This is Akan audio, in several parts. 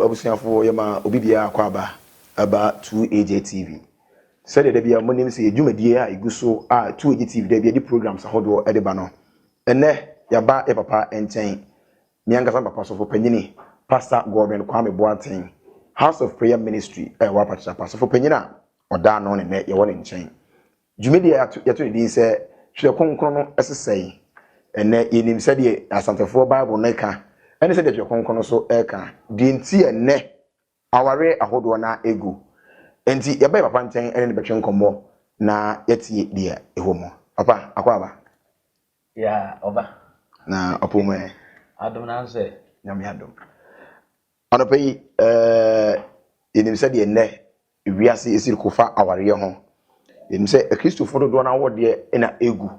Hello abusuafoɔ yɛma obi biara akwaaba ɛba 2AJ TV sɛdeɛ da biara monim sɛ yɛ dwumadie a ɛgu so a 2AJ TV da biara de programs ahodoɔ ɛde ba no ɛnɛ yɛaba yɛ papa nkyɛn me ankasa me papa sɔfo panyini Pastor Godwin Kwame Boateng House of Prayer Ministry ɛwɔ Apatrapa sɔfo panyin a ɔda ano ne nɛ yɛwɔ ne nkyɛn Dwumadi a yɛato no din sɛ Twerɛ Kronkron no so sɛn? Ɛnnɛ, yɛnim sɛdeɛ Asantefoɔ Bible no ka ne sɛdeɛ Twerɛ Kronkron no so ka deɛ nti a ɛnnɛ awareɛ ahodoɔ no ara gu. Enti, yɛbɛn papa nkyɛn ne no bɛtwe nkɔmmɔ na yɛatie deɛ ɛwɔ mu. Papa, akɔ aba? Ya, ɔba. Na ɔpoo mu ɛ? Adom na nso ɛ? Nyame adom. Anɔpa yi, eh, yɛnim sɛdeɛ nnɛ wiase si reko fa awareɛ ho. Yɛnim sɛ Akristofoɔ dodoɔ no ara awodeɛ na ɛgu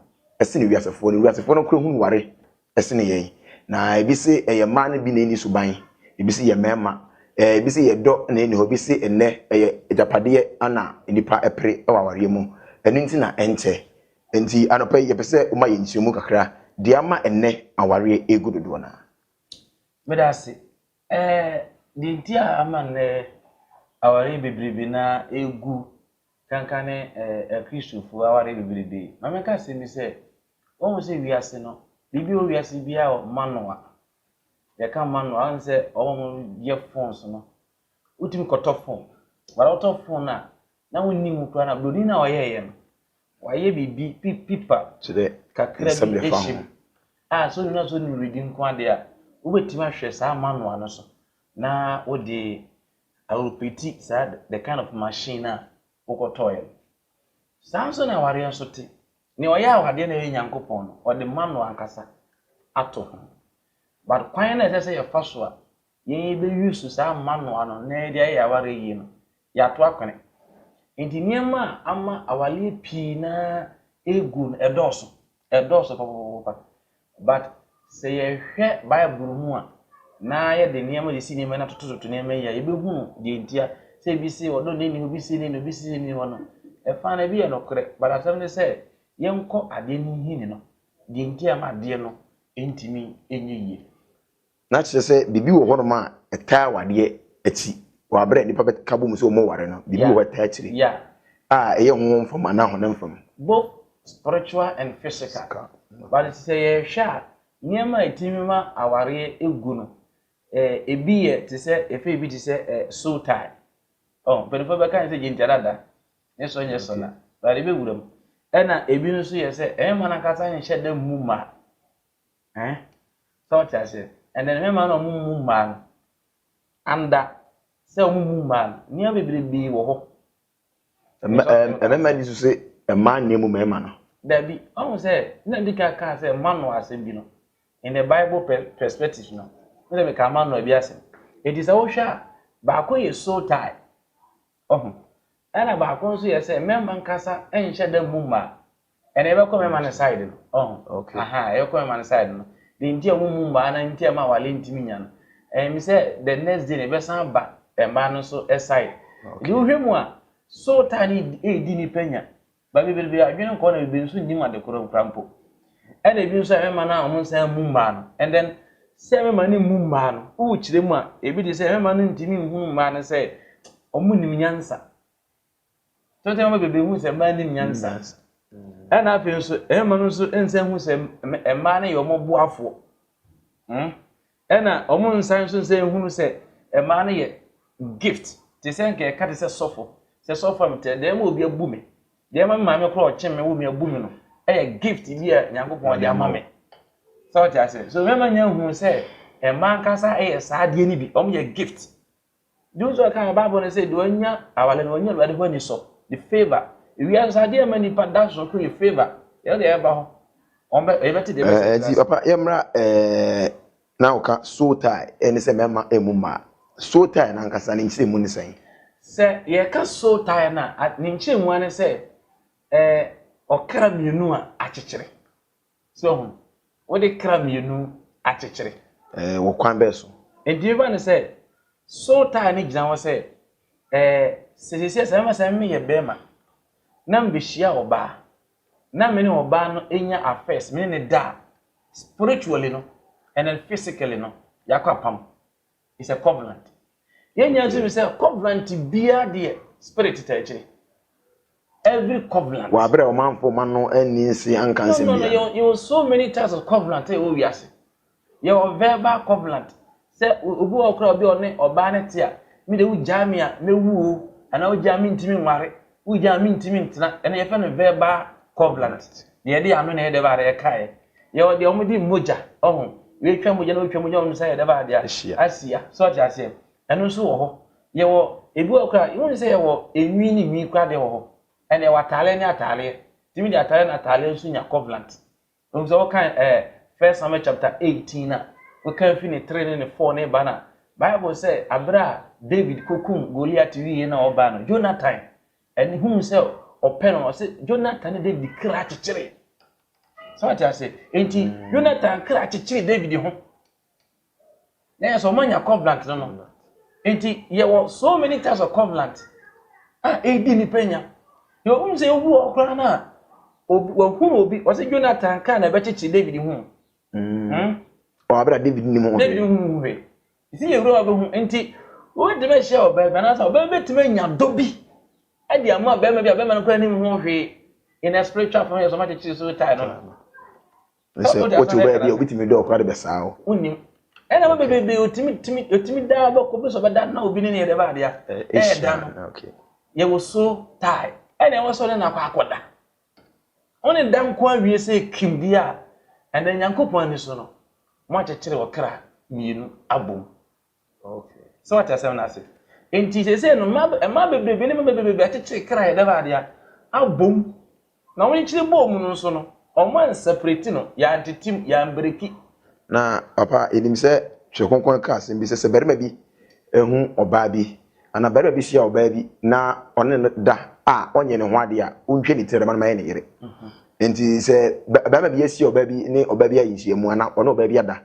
sene wiasefoɔ no. Wiasefoɔ no kora hunu ware sene yɛn. Na ebi se ɛyɛ mmaa no bi na ɛnni suban, ebi se yɛ mmarima, ebi se yɛ dɔ na ɛnni hɔ, ebi se nnɛ ɛyɛ agyapadeɛ na nnipa pere wɔ awareɛ mu. Ɛno nti na ɛnkyɛ. Enti anɔpa yi yɛpɛ sɛ woma yɛn nkyerɛmu kakra deɛ ama nnɛ awareɛ regu dodoɔ no ara. Meda ase. Ɛɛ, deɛ nti a ama nnɛ awareɛ bebrebe no ara ɛregu kanka ne Akristofoɔ awareɛ bebrebe. Ma menka asɛm bi sɛ, woahu sɛ wiase no, biribi a ɛwɔ wiase biara wɔ manoa. Yɛka manoa a, woahu sɛ wɔn a wɔyɛ phones no, wotumi kɔtɔ phone. But wotɔ phone no a, na wonni ho koraa na buroni no a ɔyɛeɛ no, Wayɛ biribi pi pipa Kyerɛ kakra nsɛm bi ɛfa ahyɛ ho. mu a sɛ ɔnim na sɛ ɔnim redi nko adeɛ a, wobɛtumi ahwɛ saa manual no so na wode aropeti saa the kind of machine no a wokɔtɔeɛ no. Saa nso na awareɛ nso te. Nea ɔyɛ awadeɛ no a ɛyɛ Nyankopɔn no, ɔde manual ankasa ato ho. But kwan no a ɛsɛ sɛ yɛfa so a yɛbɛ use saa manual no na yɛde ayɛ yɛn awareɛ yie no, Yɛato akwane. Enti nneɛma a ama awareɛ pii no ara ɛregu no, ɛdɔɔso. Ɛdɔɔso papapapapa. But sɛ yɛhwɛ Bible mu a, na yɛde nneɛma sisi nneɛma yi na totototo nneɛma yi a, yɛbɛhunu deɛ nti a sɛ ebi se ɔdɔ nni ni hɔ, obi se ni ni, obi se ni hɔ no. Ɛfa no ebi yɛ nokorɛ, but asɛm ne sɛ yɛnkɔ adeɛ no nhini no, deɛ nti a ɛma adeɛ no ntumi nyɛ yie. na kyerɛ sɛ biribi wɔ hɔnom a ɛtaa awadeɛ akyi, wɔ aberɛ a nnipa bɛka bom sɛ wɔware no, biribi wɔ hɔ a ɛtaa akyire a ɛyɛ honhom fam anaa honam fam. Both spiritual and physical, but sɛ yɛhwɛ a, nneɛma a ɛtumi ma awareɛ gu no, ɛbi yɛ te sɛ, yɛfrɛ ɛbi te sɛ soul tie, oh, mpanimfoɔ bɛka ne sɛ gyintarada, ne so nyɛ sona, but ɛbɛwura mu, ɛna ɛbi nso yɛ sɛ ɛmma no ankasa nhyɛ da mmu mma, Ɛhɛn, sɛ ɔtse aseɛ. Ɛnna no mɛma no a wɔmmu mmaa no, anda, sɛ wɔmmu mmaa no. Nneɛma bebrebee wɔ hɔ. Mma, ɛɛ, mmarima nni so sɛ mmaa nni mu mmarima no. Dabi. Wahu sɛ, na medi kan kaa sɛ manoa asɛm bi no, in the Bible pɛ, perspective no, wohu sɛ mekaa manoa bi asɛm. Enti sɛ wohwɛ a, baako yɛ soul tie. Wahu? Ɛna baako nso yɛ sɛ mɛma nkasa nhyɛ da mmu mmaa. Ɛna ɛbɛkɔ mɛma no side no. Wahu? Okay. Aha, ɛbɛkɔ mɛma no side no. Deɛ nti a ɔmo mmu mmaa na nti a ɛma awale ntumi nya no, ɛyɛ me sɛ the next day no ɛbɛsan aba mmaa no nso side. Nti wohwɛ mu a, sootaa no eedi nipa nya. Baabi bebree adwene nkɔ na bebree nso nnim ade koro koraa mpo. Ɛna ebi nso a ɛmma na wɔn nsa mmu mmaa no. And then sɛ ɛmma no mmu mmaa no, wokyerɛ mu a, ebi te sɛ ɛmma no ntumi nhunu mmaa no sɛ wɔnnim nyansa. Tete mma bebree hu sɛ mmaa nnim nyansa. Ɛna afei nso ɛmma no nso nsa hu sɛ mmaa no yɛ wɔn boafoɔ. Hmm? Ɛna ɔmo nsan nso sɛ nhunu sɛ ɛmaa no yɛ gift te sɛ nka ɛka te sɛ sɔfo sɛ sɔfo a metɛ dɛɛma obi abu me dɛɛma me maame koro a ɔkye me wo me abu me no ɛyɛ gift bi a nyankopɔn ɔde ama me sɛ ɔte ase so mɛma nya nhunu sɛ ɛma nkasa ɛyɛ saa adeɛ no bi ɔmo yɛ gift Josua kaa wɔ Bible no sɛ deɛ wanya aware no wanya Awurade hɔ anisɔ, the favour. Ewiase sɛ adeɛ ɛma nipa da so koro yɛ favour. Yɛn deɛ ɛba hɔ, wɔn bɛ ɛbɛte deɛ ɛbɛte. Ɛɛ nti papa yɛ mmra ɛɛ na ɔka soul tie ɛne sɛ mɛma ɛmu mmaa. Soul tie n'ankasa ne nkyerɛ mu ne sɛn? Sɛ yɛka soul tie no a ne nkyerɛ mu ara ne sɛ ɛɛ ɔkra mmienu a akyekyere. So hu? Wode kra mmienu akyekyere. Ɛɛ, wɔ kwan bɛn so? Enti me ba no sɛ, soul tie no gyina hɔ sɛ, ɛɛ, sɛ seesei sɛ mɛma sɛ me meyɛ barima na mebehyia ɔbaa na me ne ɔbaa no nya affairs, me ne no da a, spiritually no and then physically no, yɛakɔ apam. is a covenant yɛnya nso sɛ covenant biara deɛ spirit taa akyire every covenant. wɔ abere a ɔmanfo ma no anni nse anka nsɛm no no biara yɛ yɛ so many types of covenant a ɛwɔ wiase yɛ wɔ verbal covenant sɛ o- obi wɔ kora obi a ɔne ɔbaa ne te a me de wogyaa me a mɛwu o anaa wogyaa me ntumi nware Wogya a mentumi ntena. Ɛno yɛfrɛ no verbal covenant. Deɛ yɛde yɛn ano na ɛyɛ dɛ baa deɛ yɛkaeɛ. Yɛwɔ deɛ wɔde mogya, ɔho, wɔatwa mogya na wɔatwa mogya wɔn nsa yɛ dɛ baa deɛ ahyia. So ɔte aseɛ? Ɛno nso wɔ hɔ. Yɛwɔ ebi wɔ koraa, wohu ne sɛ yɛwɔ enwi ne nwi koraa deɛ wɔ hɔ. Ɛna yɛwɔ ataaleɛ ne ataaleɛ. Tumi de ataaleɛ na ataaleɛ nso nya covenant. Wonim sɛ wokan ɛɛ First Samuel chapter eighteen na wokan fi ne three ne ne four ne ba na Bible sɛ abere a David kɔ kum Goliath wie na ɔba no Jonathan ɛne hunu sɛ ɔpɛ no ɔsɛ Jonathan ne David kra kyekyere. Sɛ wate ase enti mm. Jonathan kra kyekyere David ho. na yɛ sɛ ɔma nya covenant no no nti yɛwɔ so many types of covenant a ɛdi nipa nya yɛ ɔhum sɛ obi wɔ koraa no a wakum obi ɔsɛ jonathan kaa na ɛbɛkyekye david hu mm. hmm? ɔabra david nim ho david hu hu hwɛ ɛsi yɛ wura wabɛhu nti wobɛtumi ahyia ɔbaa bi anaasɛ ɔbaa bi bɛtumi anya dɔ bi ɛde ama bɛrima bi a bɛrima no kora nim ho hwee in a spiritual form yɛ sɛ ɔmakyekyere so tae no Ɛ- Sɛ wode wote wo bɛyɛ bi a obi tumi dɔ ɔkora de bɛsaa wo. wonim ɛna ma bebrebe ɔtumi tumi ɔtumi daa bɛkɔ bi sɛ ɔbɛda na obi ne ne yɛdɛ baadeɛ a Ɛ- ɛda Asia, no na, okay. yɛwɔ so tae ɛna ɛwɔ sɛ ɔne no akɔ akɔda wone da nko awie sɛ kim deɛ a ɛnɛ nyankopɔn ani so no moakyekyere ɔkra mmienu abom Okay. So ɔte asɛm no ase. Nti sese no mma mma bebrebe ne mma bebrebe akyekyere kra yɛ dɛm ade a abom na wɔn nkyiri bɔɔ mu no nso no wɔn anseparate no yɛ antetem yɛ anbreki. Na papa yɛnim sɛ Twerɛ Kronkron no ka asɛm bi sɛ sɛ barima bi ɛhu ɔbaa bi Anaa barima bi hyia ɔbaa bi na ɔne no da a ɔnyɛ ne ho ade a, wontwa ne ti na dɛm no ma ɛyɛ ne yere. Enti sɛ barima bi ahyia ɔbaa bi ne ɔbaa bi ayɛ nhyiamu anaa ɔne ɔbaa bi ada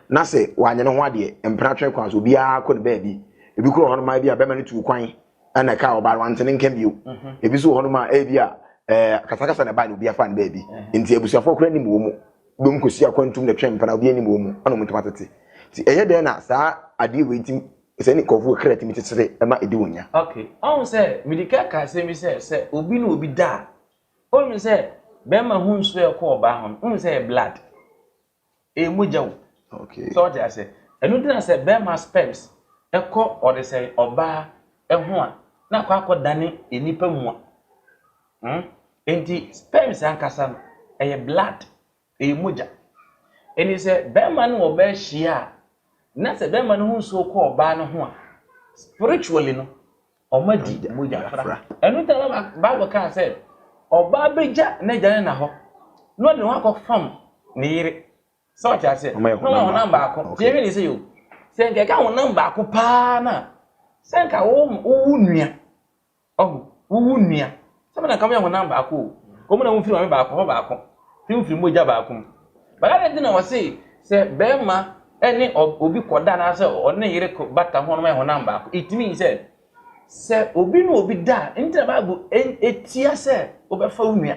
na sɛ wanyɛ ne ho adeɛ mpena twe kwan so obiara kɔ ne baabi. Ebi kora wɔ hɔnom a ebi a barima no tuu kwan na ɛkaa ɔbaa no wante ne nka bio. Ebi nso wɔ hɔnom a ebi a ɛɛ akasakasa na ɛbae na obiara faa ne baabi. Enti abusuafoɔ kora nim wɔn mu. Binom kɔsi akwantum na ɛtwe mpena obiara nim wɔn mu ɛna wɔn ntam atete. Nti ɛyɛ dɛn na saa adeɛ wei ti Sɛ ne nkurɔfoɔ kra tumi tetete ma ɛdi wɔn nya. Ok, ɔhu sɛ mede ka ka asɛm bi sɛ sɛ obi ne obi da a, ɔhu sɛ bɛrima ho nsuo a ɛkɔ ɔbaa ho no, ɔhu sɛ ɛyɛ blood, ɛyɛ mogya o. Ok. Sɛ ɔte ase, ɛno nti na sɛ bɛrima sperms ɛkɔ ɔde sɛ ɔbaa ɛho a, na akɔ akɔ dane nnipa mua. Hmm? Enti sperms ankasa no, ɛyɛ blood, Ɛyɛ mogya. Enti sɛ barima ne ɔbaa hyia a, na sɛ barima no ho nsuo kɔ ɔbaa no ho a, spiritually no, wɔadi mogya fra. Ɛno nti na Bible kaa sɛ, ɔbaa bɛgya n'agya ne na hɔ, na ɔde ne ho akɔfam ne yere. Sɛ ɔte aseɛ? Na ɔma honam baako. Nti yɛhwɛ ne sɛ yo, sɛ nka ɛka honam baako paa no a, sɛ nka wowo nua Ɔho, wo wo nua. Sɛ me na nka moyɛ honam baako o. Kɔ mu na momfiri maame baako hɔ baako, sɛ mofiri mogya baako mu. But adɛn nti na wɔse sɛ barima ne obi kɔda anaasɛ ɔne ne yere bata ho a wɔayɛ honam baako? It means sɛ, sɛ obi ne obi da a, ɛno nti na Bible tia sɛ wobɛfa wo nua.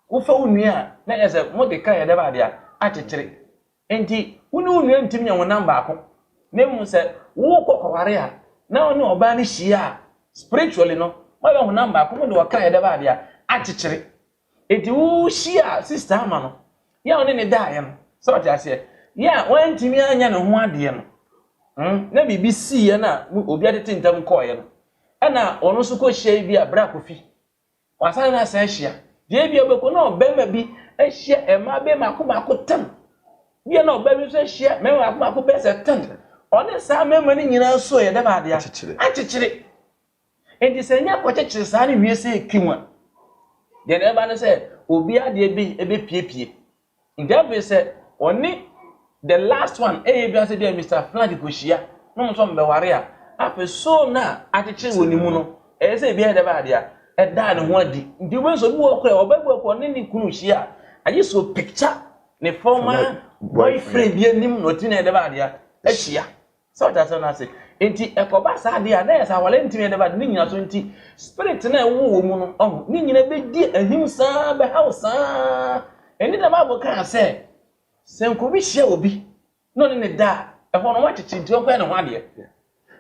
Wofa wo nua a, na kyerɛ sɛ mode ka yɛ dɛ bɛade a, akyekyere. Enti wo ne wo nua ntumi nyɛ honam baako. Na mmom sɛ worekɔ kɔware a, na wo ne ɔbaa no hyia a, spiritually no, moayɛ honam baako, mo de ɔkra a ɛda baabi a, akyekyere. Enti wohyiaa sister Alma no, yɛ a wo ne no daeɛ no, sɛ wote aseɛ, yɛ a wantumi anyɛ ne ho adeɛ no, hmm, na biribi siiɛ na mo, obi atete ntam kɔeɛ no, ɛna ɔno nso kɔhyiae bi a, bra Kofi. Wɔasan no asan ahyia. Deɛ ebia wobɛkɔ na ɔbarima bi ahyia mmaa bɛyɛ mako mako tan. Bia na ɔbaa bi nso ahyia mmarima mako mako bɛyɛ sɛ tan. Ɔne saa mmarima no nyinaa nso yɛ dɛ bɛ adeɛ akyekyere. Nti sɛ nya kɔkyekyere saa no wie sɛ ɛki ho a, deɛ na ɛba ne sɛ obi adeɛ bi ɛbɛpiepie. Nti afei sɛ ɔne the last one ɛyɛ bi asɛ bi a Mister Flag kɔhyia na ɔmo nso ɔmo bɛware a, afei soul no a akyekyere wɔ ne mu no ɛyɛ sɛ ebi ayɛ dɛ bɛ adeɛ a ɛdaa ne ho adi. Nti wobɛhu sɛ obi wɔ hɔ koraa a ɔba bi wɔ hɔ koraa a ɔne ne kunu hyia a, agye sɛ ɔpicture ne former boyfriend bi anim na watumi ayɛ dɛ bɛ adeɛ a ahyia. So ɔte aseɛ no ase? Nti ɛkɔba saa deɛ a na yɛ sɛ awale ntumi yɛ dɛba ne nyina so nti spirit no a ɛwɔ wɔ mu no ɔho ne nyina bɛdi ahim saa bɛhaw saa ɛni na Bible kaa sɛ sɛ nkobi hyia obi na ɔne ne da a ɛhɔ no wɔakyekye nti ɔnkɔyɛ ne ho adeɛ.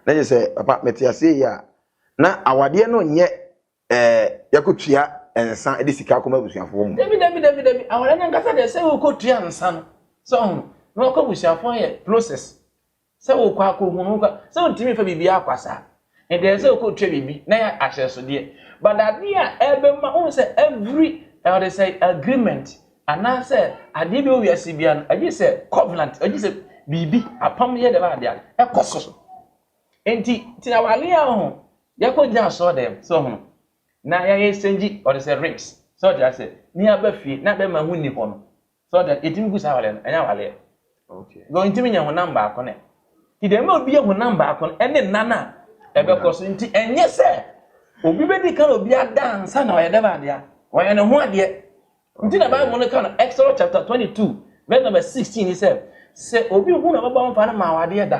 Na kyerɛ sɛ papa mete aseɛ yi a na awadeɛ no nyɛ ɛɛ yɛkɔtua nsa de sika kɔma abusuafoɔ mu. Dabi dabi dabi dabi awɔrɛ no ankasa deɛ sɛ wokɔtua nsa no sɛ ɔhono na wakɔ abusuafoɔ yɛ process sɛ wokɔ akɔhunu wokɔ sɛ wontumi fa biribi akwasaa ɛdeɛ sɛ wokɔtua biribi na yɛ ahyɛsodeɛ but adeɛ a ɛbɛma wohu sɛ every ɔde sɛ agreement anaasɛ adeɛ bi wɔ wiase bia no agye sɛ covenant agye sɛ biribi apam yɛ dɛm adeɛ ɛkɔ so Enti tena w'alee a ɔho yɛkɔ gyina asɔɔdɛm sɛ ɔho no na yɛayɛ nsɛngyi ɔde sɛ rings sɛ ɔde asɛ ne aba fie na bɛma ho nni hɔ no sɛ ɔde yɛtumi gu saa w'alee no ɛnyɛ aw'alee no ntumi nyɛ honam baako ne ti dɛm a obi yɛ honam baako no ɛne nan a ɛbɛkɔ so nti ɛnyɛ sɛ obi bɛdi kan obi ada ansa na ɔyɛ dɛm adeɛ ɔyɛ ne ho adeɛ nti na bible no ka no Exodus chapter 22 verse number 16 ni sɛ sɛ obi hu na ɔbɛbɔ mfa no ma awadeɛ da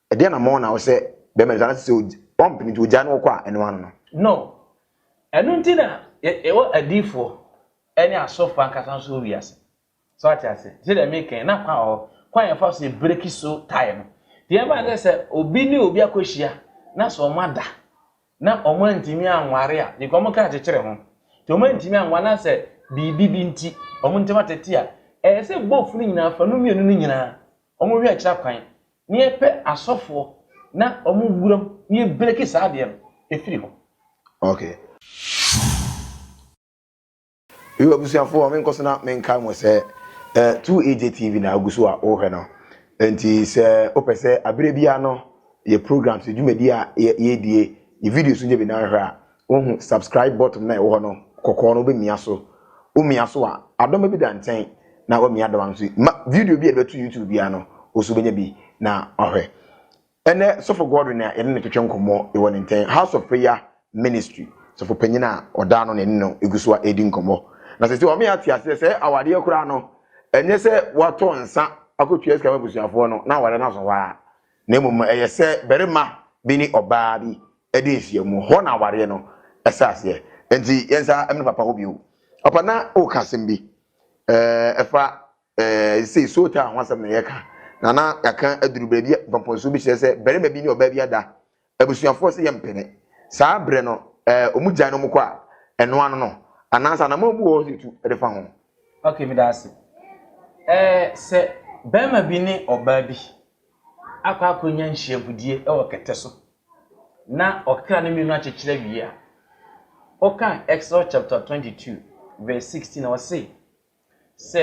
Ɛdeɛ na mɔɔ na ɔsɛ bɛɛma nisa na sɛ sɛ ɔmpene nti ɔgyae na ɔkɔ a ɛno ano no. No. Ɛno nti na yɛwɔ adiifoɔ ɛne asɔfoɔ ankasa nso wɔ wiase. So wate ase? Sɛ deɛ meka yi na kwan wɔ hɔ, kwan a yɛfa so yɛ breki so tae no. Nti yɛn mma sɛ sɛ obi ne obi akɔhyia na sɛ ɔmo ada na ɔmo antumi anware a, because ɔmo ka akyekyere ho. Nti ɔmo antumi anware na sɛ biribi bi nti ɔmo ntɛm atete a, ɛyɛ sɛ both no nyinaa fa no mmienu no nyinaa Ɔmo hwɛ kyerɛ kwan na yɛpɛ asɔfoɔ na ɔmo wura mu na yɛ breaki saa adeɛ no ɛfiri hɔ. Okay. Yo abusuafoɔ menkɔ so na menkae mo sɛ ɛ 2AJ TV na agu so a wohwɛ no nti sɛ wopɛ sɛ aberɛ biara no yɛ programs, dwumadie a yɛdie, yɛ videos nso nyɛ bi na nhwɛ a Wohu subscribe button no a ɛwɔ hɔ no, kɔkɔɔ no, wobɛmia so. Womia so a, adɔma bi da nkyɛn na woamia adɔma no nso. Ma video bi a yɛde bɛto YouTube biara no, wo nso wobɛnya bi na wahwɛ. Ɛnnɛ, Sɔfo Godwin a yɛne no twetwe nkɔmmɔ wɔ ne nkyɛn, House of Prayer Ministry sɔfo panyin a ɔda ano na yɛne no gu so a ɛredi nkɔmmɔ. Na sɛ sɛ wɔn ate aseɛ sɛ awadeɛ koraa no, ɛnyɛ sɛ wɔatɔ nsa akɔtua sika ma abusuafoɔ no na awadeɛ no asɔ hɔ ara. na mmom no, ɛyɛ sɛ barima bi ne ɔbaa bi de nhyiam. Hɔ na awareɛ no hyɛ aseɛ. Enti yɛn nsa mmene papa hɔ bio. Papa na woka asɛm bi eh, ɛfa eh, sei soul tie ho asɛm na yɛka. Na na yɛaka aduru baabi a mpɔmpɔnsuo bi kyerɛ sɛ barima bi ne ɔbaa bi ada Abusuafoɔ sɛ yɛmpene. Saa berɛ no ɛɛ ɔmo gyae na ɔmo kɔ a, ɛno ano no? Anaasɛ anammɔn bi wɔ hɔ sɛ yɛtu de fa ho? Ok, meda ase. Ɛɛ sɛ barima bi ne ɔbaa bi akɔ akɔnya nhyiabudie wɔ kɛtɛ so na ɔkra no mmienu akyekyere awie a, wokan Exodus chapter 22 verse 16 a, ɔse, Sɛ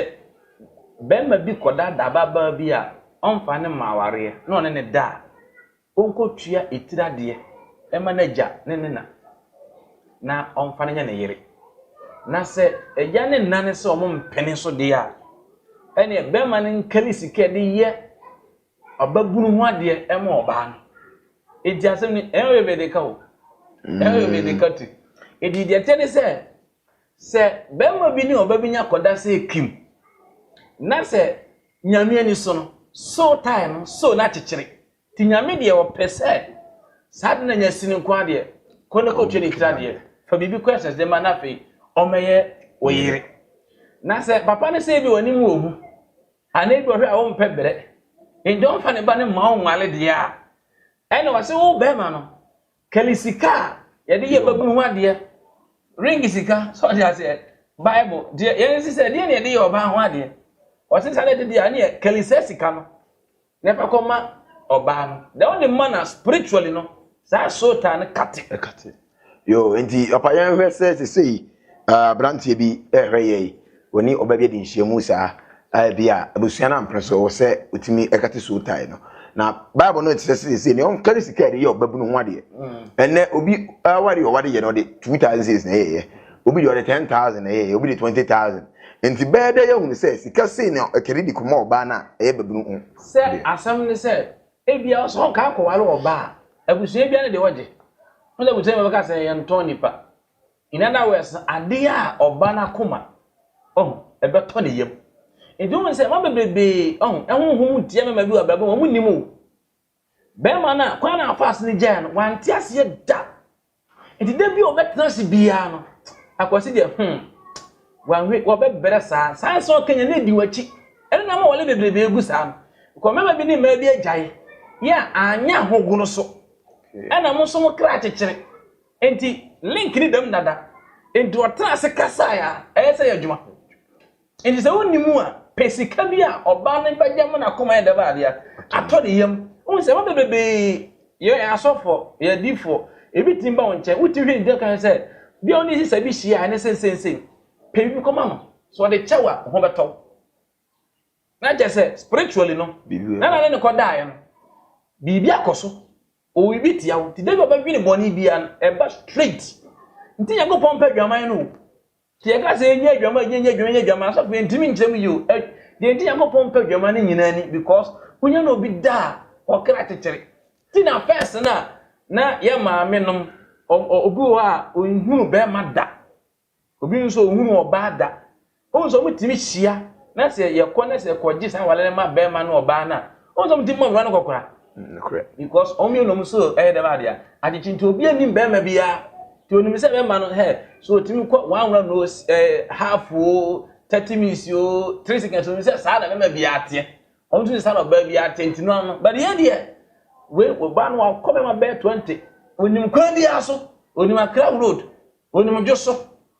barima bi kɔdaadaa ababaa bi a ɔmfa no mma awareɛ na ɔne no da a, ɔnkɔtua etiri adeɛ mma n'agya ne ne na, na ɔmfa no nyɛ ne yere. Na sɛ agya ne nna no sɛ wɔmpene so deɛ a, ɛneɛ barima no nkari sika de yɛ ɔbabunu ho adeɛ ma ɔbaa no. Enti asɛm no, ɛnyɛ ɔyɛ bɛdeka o, ɛnyɛ ɔyɛ bɛdeka ti. Enti deɛ ɛteɛ ne sɛ, Sɛ barima bi ne ɔbabi nya kɔda sɛ kim na sɛ Nyame ani so no, sow tae no, sow no akyekyere. Nti Nyame deɛ ɔpɛ sɛ saa de no anya sini nko ara deɛ, kɔ na kɔtwa ne tiri adeɛ, fa biribi kɔ ɛsɛs de ma na afei ɔmmɛyɛ wo yere. Na sɛ papa no sɛ ebi w'anim wɔ hu, anaa ebi ɔhwɛ a wompɛ brɛ, nti ɔmfa ne ba no mma wo nwale deɛ a, ɛna ɔse wo barima no, Kelly sika a yɛde yɛ babunu ho adeɛ, ring sika, sɛ ɔde aseɛ, Bible, deɛ yɛn nsi sɛ deɛ na yɛde yɛ ɔbaa ho adeɛ. Ɔte saa na ɛde deɛ ɛne Kelly sɛ sika no, na ɛfa kɔ ma ɔbaa no. Deɛ wode ma no spiritually no, saa soul tie no kate. Ɛkate. Yo, nti papa yɛn hwɛ sɛ sesei Aberanteɛ bi rehwɛ yɛi, ɔne ɔbaa bi adi nhyiamu saa, ɛbi a abusua no ampere so wɔ sɛ ɔtumi kate soul tie no, na Bible no kyerɛ sɛ sɛ nea ɔnkari sika ɛde yɛ ɔbabunu ho adeɛ, ɛnɛ obi aware ɔware yɛ no ɔde 2000 cedis na ɛyɛyɛ, obi deɛ ɔde 10000 na ɛyɛyɛ, obi de 20000, nti bɛyɛ dɛ yɛahunu sɛ sika sei na ɛkari de kɔma ɔbaa no a ɛyɛ babunu ho deɛ. Sɛ asɛm ne sɛ ɛbi a ɔsɛ ɔkaa kɔware ɔbaa a, abusua biara ne deɛ ɔgye, wosɛ abusua bi bɛka sɛ yɛntɔn nipa. In other words, adeɛ a ɔba no akoma ɔho, ɛbɛtɔ ne yam. Nti wohu sɛ mma bebrebee ɔho, ɛhonhom mu teɛ mɛma bi wɔ abrabɔ wɔn nnim o. Bɛrima no a kwan na afa ase no gyae no, wante aseɛ da. Nti da bi a ɔbɛtena ase biara no, akwasi deɛ hmm, wɔahwe wɔbɛbrɛ saa, saa nsɛm ɔka nyɛ na ɛdi wakyi. Ɛno na ama wɔle bebrebee gu saa no. Kɔ mɛma bi ne mmaa bi agyae, yɛ a anyɛ ahogono so. Ɛna mo nso mo kra kyekyere. Enti link ne dam dada. Enti ɔtena ase kasae a ɛyɛ sɛ yɛ adwuma. Enti sɛ wonni mu a, pɛ sika bi a ɔbaa no bɛgye ama n'akoma yɛ dɛm adeɛ atɔ ne yam. Wohu sɛ ɛma bebrebee yɛ asɔfoɔ, yɛ adiifoɔ. Ebi tumi ba wo nkyɛn, wotumi hwɛ nti kan sɛ bia wo ne sisa bi hyia a ɛne sensensei. Pɛ biribi kɔma no. Sɛ ɔde kyɛw a, ho bɛtɔ wo. Na kyerɛ sɛ spiritually no, na na ne ne kɔdaeɛ no, biribi akɔ so. Owi bi tia wo nti dabi ɔbɛdwene bɔne bia no ɛba straight nti Nyankopɔn pɛ adwaman no o nti yɛka sɛ yɛnyɛ adwaman yɛnyɛ adwaman yɛnyɛ adwaman asɔfo yɛntumi nkyerɛ mu yio ɛ deɛ nti Nyankopɔn pɛ adwaman no nyinaa ni because wonya no obi da a ɔkra kyekyere ti na first no a na yɛ maame nom obi wɔ hɔ a ɔnhunu bɛrima da Obi nso ɔnhunuu ɔbaa da. Wohu sɛ wɔtumi hyia na sɛ yɛkɔ na sɛ kɔgye saa aware no ma barima ne ɔbaa no a, wohu sɛ wɔtumi ma owura no kɔkora. Because wɔn mmienu nom so ɛyɛ dɛm adeɛ a, akyekye nti obi anim barima biara. Nti onim sɛ bɛma no hɛ, so otumi kɔ one run o, ɛɛ half o, thirty minutes o, three seconds o, onim sɛ saa na bɛma biara teɛ. Wɔn nso saa na ɔbaa biara teɛ nti no ano. But yɛ deɛ, wei ɔbaa no wakɔ bɛma bɛyɛ twenty, onim kwan biara so, onim Accra road. Onim dwo so.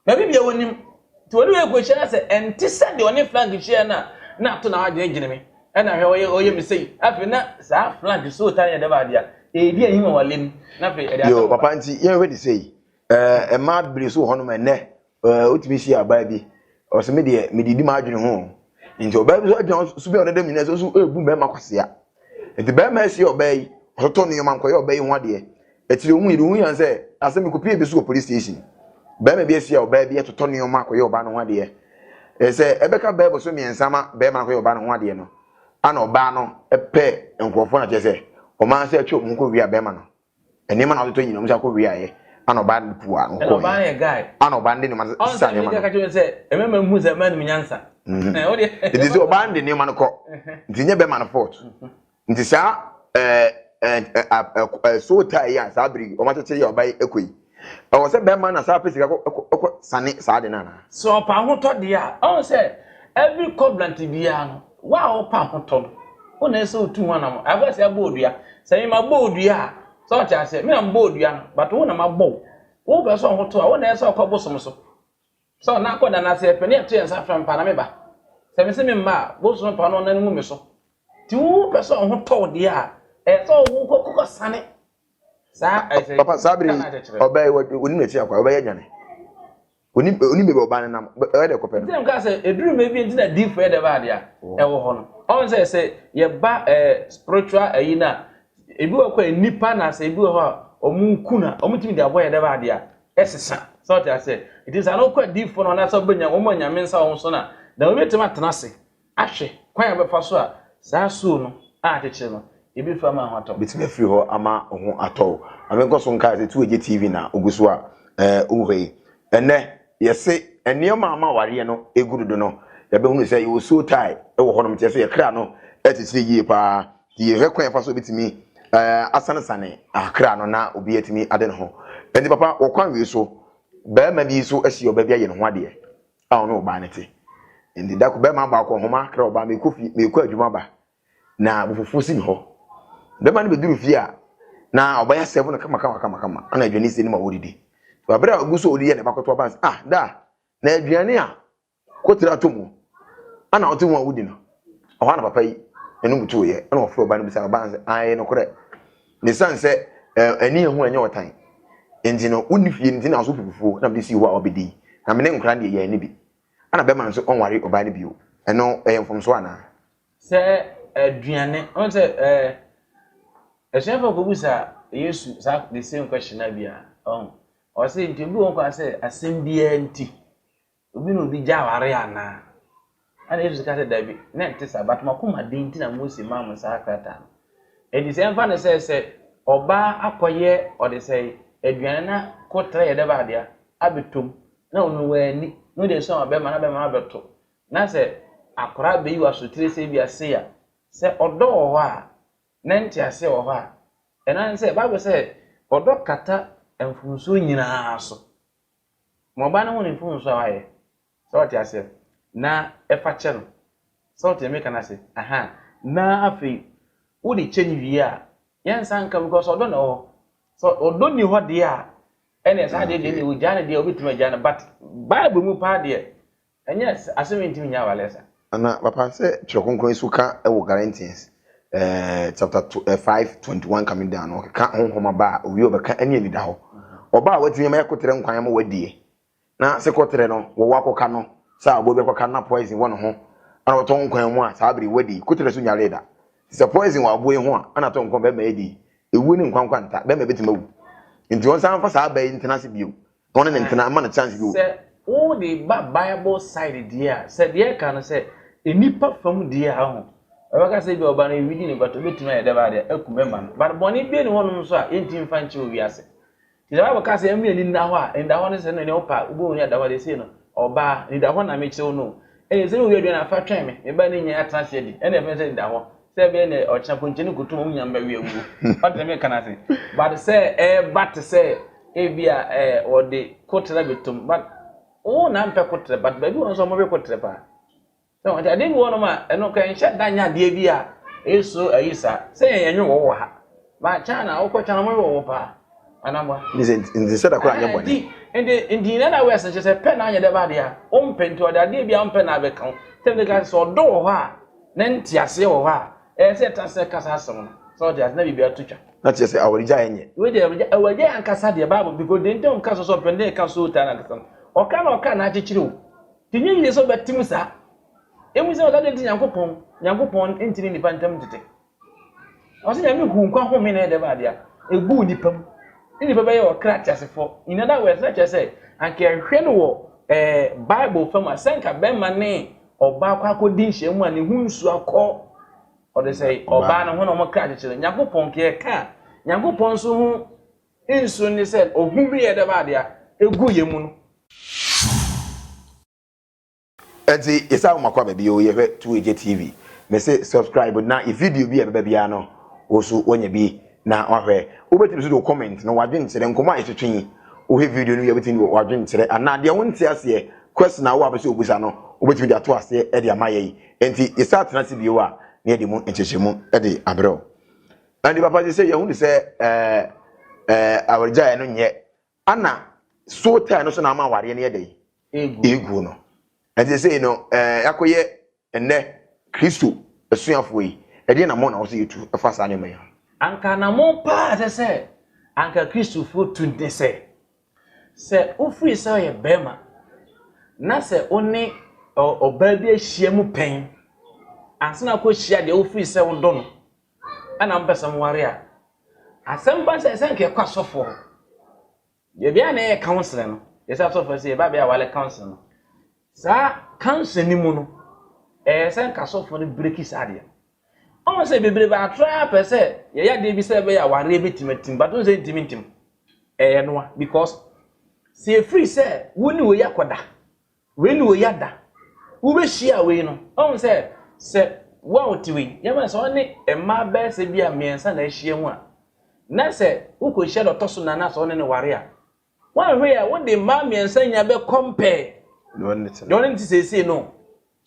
Na biribi a onim. Nti ɔne wei kɔhyia na sɛ ɛnte sɛ deɛ ɔne Frank hyiaeɛ no a, na ato na wadwene gyene me. Ɛna hwɛ ɔyɛ ɔyɛ me sei. Afei na saa Frank so taa yɛ dɛm adeɛ a, ɛredi ahim wɔ awale mu. Na afei ɛde asɛm Yoo, ba. papa nti yɛnhwɛ te sei. Ɛɛ, mmaa bebree nso wɔ hɔnom ɛnnɛ, ɛɛ wotumi hyia ɔbaa bi, ɔse me deɛ, medidi m'adwene ho o. Nti ɔbaa bi nso agyina hɔ, su bɛn a ɔda dɛm nyinaa, nso nso ɛrebu mmarima kwasea. Enti barima yi siee ɔbaa yi, ɔtotoo ne nneɛma kɔyɛɛ ɔbaa yi ho adeɛ. Akyire ɔhui no, ɔhui yɛn sɛ asɛm yi kɔpuee bi so wɔ police station. Barima bi asie ɔbaa bi atotɔ nneɛma akɔyɛ ɔbaa no ho adeɛ. Ɛɛ sɛ ɛbɛka bɛɛbo so mmiɛnsa ma barima no akɔyɛ ɔbaa no ho adeɛ no, ana ɔbaa no pɛ nkurɔfoɔ no akyerɛ sɛ ɔman sɛ atwa wɔn ho kɔwia barima no. Nneɛma na ɔtotɔ nyina ɔmo sɛ akɔ wei ayɛ ana ɔbaa no puu a no kɔɔ ɔbaa yɛ guy ana ɔbaa no de nneɛma no sisa nneɛma no ɔnsa mi sɛ ɛmɛ ma mu sɛ ɛmɛ nim nyansa ɛɛ ɔde ɛdi sɛ ɔbaa no de nneɛma no kɔ nti nyɛ bɛma no fort nti saa ɛɛ ɛɛ ɛɛ ɛɛ ɛɛ so taa yi a saa bere yi ɔmo akyekyere yɛ ɔbaa yi ɛkɔ yi Ɛwɔ sɛ bɛrima na saa pɛ sika kɔ kɔ kɔ sane saa de no anaa? Sɛ ɔpɛ ahotɔ deɛ a, ɔn sɛ every covenant biara no, wo a wopɛ ahotɔ no, wo na ɛsɛ otu ho anam. Afɛ sɛ ɛbɔ odua. Sɛ me ma bɔ odua a, sɛ ɔte aseɛ, me na mbɔ odua no, but wo na ma bɔ wo. Wo pɛ sɛ ɔhotɔ a, wo na ɛsɛ ɔkɔ bosom so. Sɛ ɔna akɔ da n'ase ɛpɛ, ne ɛto yɛn nsa frɛ mpa na me ba. Sɛ me se me mma a, bosom pa no ɔna no ngu me so. Ti wo pɛ sɛ ɔhotɔ deɛ a, ɛsɛ ɔwo kɔ kɔ sane. papa saa bere ɔbaa yi onim n'akyi akwa ɔbɛyɛ adwane onim onim baabi ɔbaa no nam ɛyɛ dɛ kɔpɛ no. ɛsɛ nka sɛ eduru mɛ bi nti na di fɛ dɛ ba adeɛ a ɛwɔ hɔ no ɔn sɛ sɛ yɛba ɛɛ spiritual ɛyi na ebi wɔ kɔ nipa na sɛ ebi wɔ hɔ a wɔn nku na wɔn tumi de abɔ yɛ dɛ ba adeɛ a ɛsesa sɛ ɔte aseɛ eti sɛ ano kɔ adi fo no anaasɛ ɔbɛnya wɔn a nyame nsa wɔn so na na obi tɛm atena ase. Ahwɛ kwan a ɔbɛfa so a saa soo no a akyekyere no, ebi fa ama ne ho atɔ. Betumi afiri hɔ ama wo ho atɔ wo. Ma me nkɔ so nkae sɛ tu agye TV na ogu so a eh wo hwɛ yi. Ɛnnɛ, yɛse nneɛma a ama awareɛ no egu dodo no, yɛabɛhunu sɛ yɛwɔ soul tie wɔ hɔnom, nti ɛso yɛ kra no akyekyere yie paa. Nti yɛhwɛ kwan a yɛfa so betumi eh asanesane ah kra no na obi atumi ade ne ho. Ɛnti papa, wɔ kwan wei so, barima bi nso ahyia ɔbaa bi ayɛ ne ho adeɛ. a ɔne ɔbaa no te. Enti da koro, barima baa kɔɔ nhoma kra ɔbaa, Mekɔ fie, mekɔ adwuma ba, na bufufuo si me hɔ. Barima no bɛduru fie a, na ɔbaa yi asɛvo no kama kama kama kama, ana aduane sie no ma ɔredidi. Berɛ a ɔgu so ɔredidi a ne ba kɔto aba no sɛ, ah, da, na aduane a kɔtiri ato mu ana ɔte ho a wodi no, ɛhɔ a na papa yi anom tuoeɛ, ɛna ɔfrɛ ɔbaa no bisaa no, ɔbaa no sɛ, ae, nokorɛ. Na esiane sɛ ɛne ehu nyɛ ɔtan nti no, wonni fie nti na ɔso pu fufuo na mede sii hɔ a ɔbɛdi. Na me ne nkora deɛ, yɛanni bi. Ɛna bɛrima no nso ɔnware ɔbaa no bio. Ɛno ɛyɛ mfomsoɔ anaa? Sɛ aduane, ɔn sɛ ɛɛ asuafoɔ kɔbu sa Yesu saa the same question na bia ɔn ɔsɛ nti obi wɔn kɔ asɛ asɛm biara nti Obi ne obi gye aware anaa? Ɛnna Yesu ka sɛ, Dabi, na ɛnte saa, but mo akomaden nti na Mose maa mo saa krataa no. Enti sɛ ɛmfa no sɛ sɛ ɔbaa akɔyɛ ɔde sɛ aduane na kotra yɛ dɛ baa dea abɛtɔm na ɔno wanni na ɔde asua ma bɛrima na bɛrima no abɛto na sɛ akwaraa bɛyi wɔ asotire sɛ bi ase a sɛ ɔdɔ wɔ hɔ a na nte aseɛ wɔ hɔ a ɛno ne sɛ bible sɛ ɔdɔ kata mfomsoɔ nyinaa so Ma ɔbaa no ho ne mfomso a wayɛ. Sɛ ɔte aseɛ no, na fa kyɛ no. Sɛ ɔte deɛ mereka no ase? Aha. Na afei, wode kyɛ no wie a, yɛnsa nka mu, because ɔdɔ na ɛwɔ hɔ. Sɛ ɔdɔ nni hɔ deɛ a, ɛnneɛ saa adeɛ deɛ, ɛnneɛ ɔgyaa no deɛ a, ɔbɛtumi agyaa no, but Bible mu paa deɛ, Ɛnyɛ sɛ asem yi ntumi nyɛ awale sa. Ana papa sɛ twerɛ kronkron yi so ka wɔ Galatians eh, chapter to, eh, 5 21 coming down no ɔkeka honhom aba a owie ɔbɛka ɛne anida hɔ ɔba a watumi ama yɛkoterɛ nkwan ama wadiɛ na se kɔterɛ no wɔwɔ akɔka no sɛ ɔbɔ bi akɔka na poison wɔ ne ho ana ɔtɔ nkwan mu a saa bere wadi koterɛ so nyaree da te sɛ poison wɔ aboɔ yi ho a ana tɔ nkwan bɛrima yɛ di ewuo ne nkwankwa nta bɛrima bɛtumi awu nti wɔn san fa saa aba yi ntena ase bio Mo ne no ntena mma no chance bi o. Sɛ wo de ba bible side deɛ a sɛ deɛ ɛka no sɛ nnipa fam deɛ a ho ɛbɛka sɛ bi ɔba no ɛwidi ne bata obɛtumi ayɛ dɛ baadeɛ aku bɛma no but bɔne bie ne hɔnom nso a yɛntimi mfa nkyɛ owi ase ti the bible ka sɛ ɛmɛ ani nna hɔ a ɛnda hɔ no sɛ no ne wo pa wobɔ ni ada hɔ deɛ sei no ɔbaa nida hɔ na mekyerɛ wo no ɛyɛ sɛ ne owi aduane afa twɛn me meba ne nyɛ atena ase adi ɛne ɛfɛ sɛ nida hɔ Sɛ ɛbɛyɛ nɛ ɔkyena ponkye no koto wɔn nyinaa bɛwe awuo. Ɔte sɛ meka no ase. But sɛ ɛba te sɛ ebi a ɛɛ wɔde kotrɛ bɛtom but wo na mpɛ kotrɛ but baabi wɔ nso wɔwe kotrɛ paa. Sɛ wɔn ti adeɛ bi wɔ nom a ɛno kɛnhyɛ da nyɛ adeɛ bi a ɛso ayi saa sɛ yɛn yɛnwe wɔ wɔ ha. But China wokɔ China mo wɔ wo paa anamwa. Nse nti sɛ da kora anyɛ bɔne. Nti nti na na wɛs nkyɛ sɛ pɛ na anyɛ dɛ ba adeɛ a wompɛ nti ɔde adeɛ bi a wompɛ na abɛka wo. Sɛ ne ka sɛ ɔdɔ wɔ hɔ a na nti aseɛ wɔ hɔ a ɛyɛ sɛ ɛtra sɛ kasa asɛm no. Sɛ ɔde ase na biribi ato twa. Na kyerɛ sɛ awarigya a ɛnyɛ. Wei deɛ awarigya awarigya yɛ ankasa deɛ Bible bi ko deɛ nti a wɔka so sɛ ɔpɛ ne ka so taa na ankasa no. Ɔka na ɔka na akyekyere o. Ti nyɛ yie sɛ ɔbɛte mu saa. Emu sɛ ɔda deɛ nti Nyankopɔn Nyankopɔn ntini nipa ntam ntete. Ɔse Nyame huu nkwa home na ɛyɛ dɛm ade a, eguu nipa mu. Ne nipa bɛyɛɛ ɔkra teasefɔ. In other words, na kyerɛ sɛ, anka yɛhwɛ no wɔ ɛɛ Bible fam a, sɛ anka bɛrima ne ɔbaa kɔ akɔdi nhyiamu a, ne ho nsu akɔ. Ɔde sɛ ɔbaa no ho na wɔkra kyekyere. Nyankopɔn nka yɛka a, Nyankopɔn nso ho nsu ne sɛ, ohome yɛ dɛm ade a, eguu yɛn mu no. Ɛnti yɛsan wo makwaba bio yɛhwɛ two agya TV mese subscribe na yɛ video bi a ɛbɛba biara no wo so wanya bi na wahwɛ wobɛtumi so de wo comment no wadwenkyerɛ nkɔmɔ a yɛtwetwe yi wohwɛ video no wie wobɛtumi de wadwenkyerɛ anaa deɛ wonte aseɛ question a wowɔ apɛ sɛ obusa no wobɛtumi de ato aseɛ de ama yɛn ɛnti yɛsa atena ase bio a na yɛde mu nkyɛkyɛmu de abrɛ wo ɛnti papa sɛ sɛ yɛhunu sɛ ɛɛ ɛɛ awargyaeɛ no nyɛ Ana soul tie no so na ama awareɛ no yɛ dɛn? Ɛreguo no. Ɛnti sei no ɛɛ yɛakɔyɛ ɛnnɛ Kristo asuafoɔ yi, ɛdeɛn namɔn na ɛwɔ sɛ yɛtu fa saa nneɛma yi ho? Anka anamɔn pa ara a ɛsɛ sɛ anka Kristofoɔ tu ne sɛ, sɛ wofiri sɛ woyɛ barima na sɛ wo ne ɔbaa bi ahyiam pɛn ansa na woakɔhyia deɛ wofiri sɛ wodɔ no na mopɛ sɛ moware a, asɛm pa sɛ sɛ nka yɛkɔ asɔfoɔ hɔ. Baabi a na ɛyɛ counseling no, yɛsɛ asɔfoɔ sɛ yɛba bɛyɛ awale counseling no. Saa counseling no mu no, ɛyɛ sɛ nka asɔfoɔ no breki saa adeɛ no. Ɔmo sɛ bebrebe atra pɛ sɛ yɛyɛ adeɛ bi sɛ ɛbɛyɛ awareɛ bɛtumi atim, but sɛ ntimi ntim. Ɛyɛ noa because sɛ ɛfiri sɛ wo ne wei akɔda Wei ne wei ya da. Wobɛhyia wei no, ɔhu sɛ sɛ wo a wote wei, yɛmfa no sɛ ɔne mmaa bɛyɛ sɛ bi a mmiɛnsa na ahyia mu a, na sɛ wokɔhyia deɛ ɔtɔ so nnan na sɛ ɔne no ware a, woanhwɛ a wode mmaa mmiɛnsa nyinaa bɛ compare deɛ ɔne no te seesei no.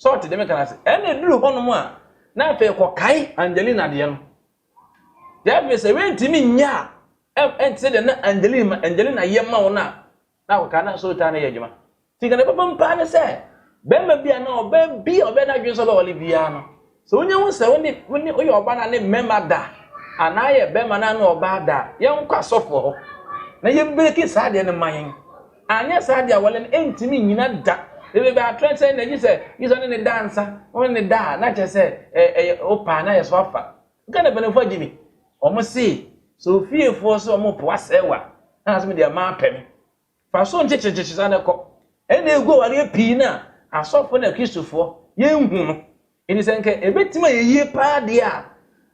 Sɛ ɔte deɛ meka no ase. Ɛna ɛduru hɔnom a, na afei kɔkae Angelina deɛ no. Deɛ afei sɛ wei ntumi nyɛ a, ɛnte sɛ deɛ na Angelina, Angelina yɛ ma wo no a, Na ɔkaa na nso taa no yɛ adwuma. Ti nka ne papa mu paa ne sɛ bɛrima bi a na ɔbɛ bi a ɔbɛ n'adwene sɛ ɔbɛwale biara no sɛ wonya hu sɛ wone wone woyɛ ɔba na ne mmarima da anaa yɛ bɛrima na ne ɔbaa da yɛnkɔ asɔfoɔ hɔ na yɛbreki saa deɛ no ma yɛn anyɛ saa deɛ awale no ɛntumi nyina da ebe bɛ atrɛ sɛ na gye sɛ gye sɛ ne ne da nsa wone ne da a na kyɛ sɛ ɛyɛ opaa na yɛ so afa Ghana mpanyinfoɔ agye me. Wɔn se sɛ ofiefoɔ se wɔn po asɛe wo a, na asem deɛ maapɛ me. Fa so nkyekyere nkyekyere saa na kɔ. Ɛna egu awareɛ pii na asɔfoɔ na Kristofoɔ yɛn nhu no. Enti sɛ nka ebetumi ayɛ yie paa deɛ a,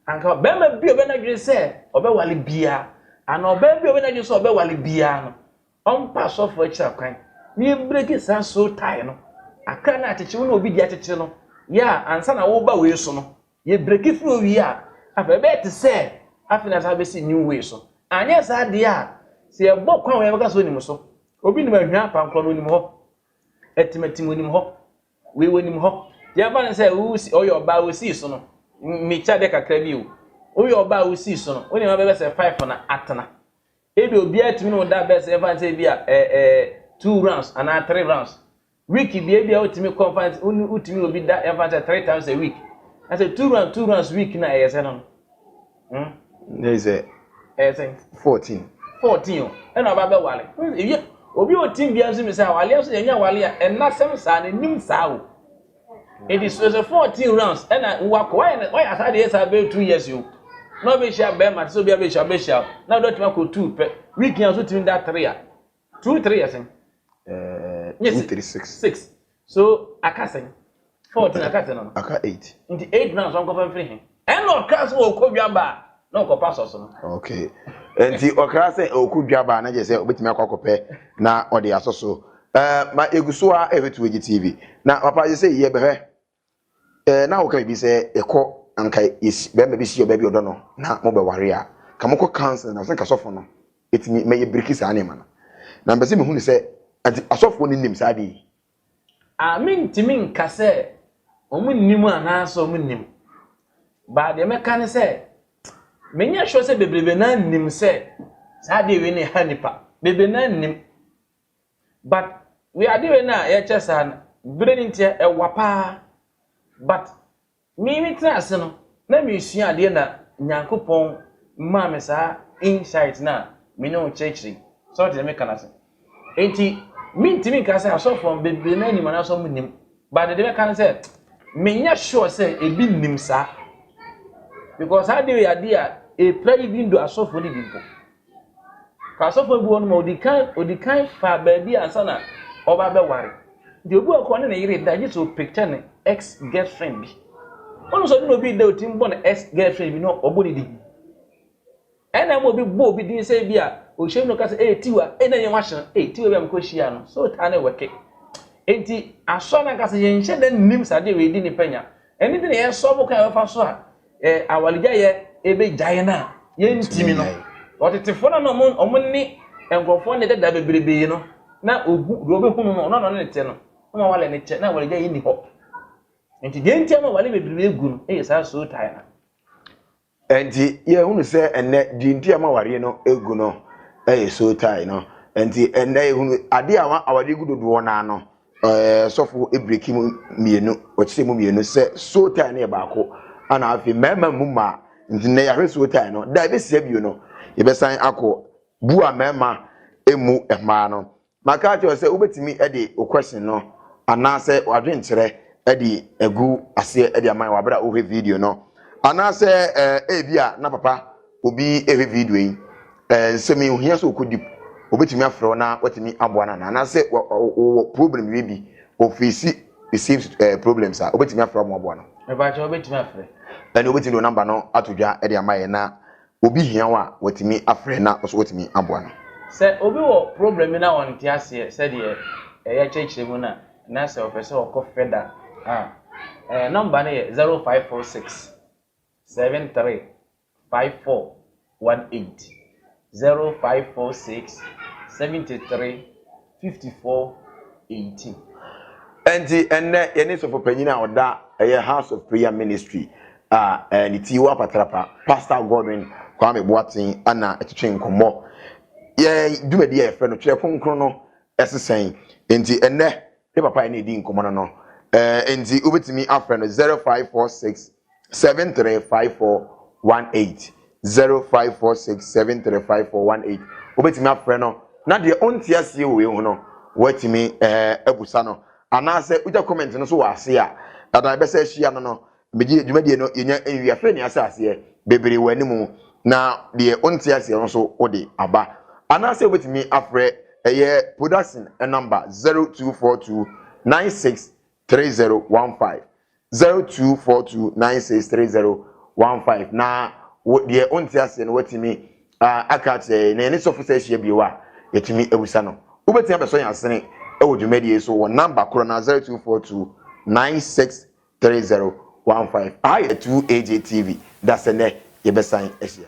anka barima bi a ɔbɛ n'adwene sɛ ɔbɛwale biara anaa ɔbaa bi a ɔbɛ n'adwene sɛ ɔbɛwale biara no, ɔmpa asɔfoɔ akyira kwan na yɛbreki saa soul tie no. Akra no a akyekyere wo ne obi di akyekyere no, yɛ a ansa na woreba wei so no, Yɛ breki firi owie a, afei ɛbɛyɛ te sɛ afei na asan bɛsi new way so. Anyɛ saa deɛ a, sɛ yɛbɔ kwan wɔ yɛbɛka sɛ onim so. Obi nim ahwia apankorɔ no onim hɔ, atimatim onim hɔ, wei onim hɔ. Yɛmfa no sɛ ɔyɛ ɔbaa wosii so no, mekyɛ adeɛ kakra bi o. Woyɛ ɔbaa a wosii so no, wo nneɛma bɛbɛ sɛ five na atena. Ebi obiara tumi ne wo da bɛsɛ yɛmfa no sɛ ebi a ɛɛ ɛɛ two rounds anaa three rounds. Week deɛ ebia wotumi kɔ fa wotumi obi da ɛfa sɛ three times a week na sɛ two rounds two rounds week na ɛyɛ sɛ no no. Hmm? Na ɛyɛ sɛ. ɛyɛ sɛ. fourteen. fourteen o ɛna ɔba bɛ wale ewie obi wɔ team biara nso mi sɛ awale nso yɛn nyɛ awale a ɛnasɛm saa na enim saa o edi sɛ sɛ fourteen rounds ɛna wakɔ wayɛ na wayɛ asa deɛ saa bɛyɛ two years o na ɔbɛhyia bɛrima te sɛ obi abɛhyia ɔbɛhyia o na ɔdɔ tuma kɔ two pɛ week yɛn nso tumi da three a Two three yɛ sɛn? Ɛɛ two three six. Six so aka sɛn? Fourteen aka sɛn no? Aka eight. Nti eight na sɔn kɔfɛ nfiri he. Ɛna ɔkra sɛ ɔkɔ dwaba a na ɔkɔpɛ asɔso no. Okay. Nti ɔkra sɛ ɔkɔ dwaba a na kyerɛ sɛ ɔbɛtumi akɔ akɔpɛ na ɔde asɔso. Ɛɛ ma egu so a ɛhwɛ Tuweji TV na papa yɛ sɛ yɛbɛhwɛ Eh, na woka biribi sɛ yɛkɔ anka yɛsi bɛrima bi si ɔbaa bi ɔdɔ no na mobɛware a, ka mokɔ counseling na sɛ nka sɔfo no ɛtumi ma yɛ biriki saa nneɛma no. Na mpɛ sɛ mehu no sɛ anti asɔfoɔ no nnim saa ade yi. A, mentumi nka sɛ wɔn nnim anaasɛ wɔn nim. Baa deɛ mɛka ne sɛ, menyɛ sure sɛ bebrebe naa nnim sɛ saa adeɛ wei na ɛha nnipa. Bebrebe naa nnim. But wiade wei no a yɛkyɛ saa no bere no ntia ɛwa paa but me me tena ase no na mesua adeɛ na Nyankopɔn maa me saa insight no a me ne wo kyerɛkyerɛ yi sɛ ɔte ne meka no ase enti mentimi nka sɛ asɔfoɔ bebree no anim anaasɛ ɔmo nim but dede bɛka no sɛ menyɛ sure sɛ ebi nim saa because saa adeɛ yɛ adeɛ a ɛpira yi bi ndo asɔfoɔ no bi mpo Fa asɔfo a ebi wɔ no ma odi kan odi kan fa baabi ansa na ɔba abɛware. Nti obi wɔ kɔ ɔne ne yere da gye sɛ ɔpicture ne ex girlfriend bi. Wonim sɛ ɔne na obi da otim bɔ ne ex girlfriend bi na ɔbɔ ne din. Ɛna ama obi bɔ obi din sɛ bi a ɔhyɛ mu no ka sɛ ee tiwa ee na yɛn wahye no ee tiwa bi a mekɔ hyia no so taa ne wɛke. Nti asɔ no ankasa yɛnhyɛ da nnim sɛ adeɛ wei di nipa nya. Ɛno nti na yɛsɔ bo kwan a yɛbɛfa so a eh, awaregyaeɛ ɛbɛgya yɛn a yɛntumi no ɔtetefoɔ no na ɔmo ɔmo ne nkurɔfoɔ ne dada bebrebe no na ohu deɛ ɔbɛhunu no ɔno na ɔne ne te no na ma wale ne kyɛ na awaregyaeɛ nni hɔ nti deɛ nti ama wale bebrebe gu no ɛyɛ saa so tae no nti yɛhunu sɛ ɛnɛ deɛ nti ama awareɛ no gu no ɛyɛ so tae no nti ɛnɛ yɛhunu adeɛ a awareɛ gu dodoɔ no ano ɛɛ sɔfo ebireki mu mmienu wɔkyekyɛ mu mmienu sɛ soul tie no yɛ baako ana afei mmarima mu mmaa nti nnɛ yɛahwɛ soul tie no da ebesia bio no yɛbɛsan akɔ bu a mmarima emu mmaa no maka akyerɛ sɛ wobɛtumi de o question no anaasɛ wadwenkyerɛ de agu aseɛ de ama wɔ abere a wohwɛ video no anaasɛ ɛɛ ebi a na papa obi rehwɛ video yi, eh, nsɛm yi ohia sɛ ɔkɔ deep, obetumi afrɛ wo na watumi aboa no anaa? Anaasɛ wɔwɔ problem wie bi, ɔfeesi the same eh, problems a, obetumi afrɛ wɔn aboa no? Ɛbɛkyɛ obetumi afrɛ. Ɛne obetumi de namba no ato dwa de ama yɛn na obi hia wo a, watumi afrɛ na ɔso watumi aboa no. Sɛ obi wɔ problem bi na ɔnte aseɛ sɛdeɛ ɛyɛ kyerɛkyerɛ mu no a, na sɛ ɔpɛ sɛ ɔkɔ frɛ da a, eh, namba no yɛ zero five four six. seven three five four one eight zero five four six seventy three fifty four eighteen. Nti ɛnnɛ yɛne sɔfo panyin a ɔda ɛyɛ House of Prayer Ministry a ne ti wɔ Apatrapa, Pastor Godwin Kwame Boateng ana ɛtwetwe nkɔmmɔ. Yɛ dwumadi a yɛfrɛ no Twerɛ Kronkron no ɛse sɛn? Nti ɛnnɛ me papa a ɛne ɛdi nkɔmmɔ no no, nti wobɛtumi afrɛ no zero five four six Seven three five four one eight zero five four six seven three five four one eight wobɛtumi afrɛ no na deɛ ɔnte aseɛ wɔ wei ho no woatumi ɛɛ eh, abusa no anaasɛ wogya comment no so wɔ ase a ɛda ɛbɛsɛ ahyia no no megye dwumadie no yɛnya nwi afei ne asɛ aseɛ bebree wɔ animu na deɛ ɔnte aseɛ no so wode aba anaasɛ wobɛtumi afrɛ ɛyɛ production number zero two four two nine six three zero one five zero two four two nine six three zero one five na wo deɛ ɔnte aseɛ no watumi aka akyerɛ yɛn na yɛne sɔfo sɛ ahyia bio a yɛtumi awusa no wobɛtumi abɛsɔ yɛn asene ɛwɔ dwumadie so wɔ namba korɔ na zero two four two nine six three zero one five aha yɛ two AJ TV dasɛ nɛ yɛbɛsan ahyia.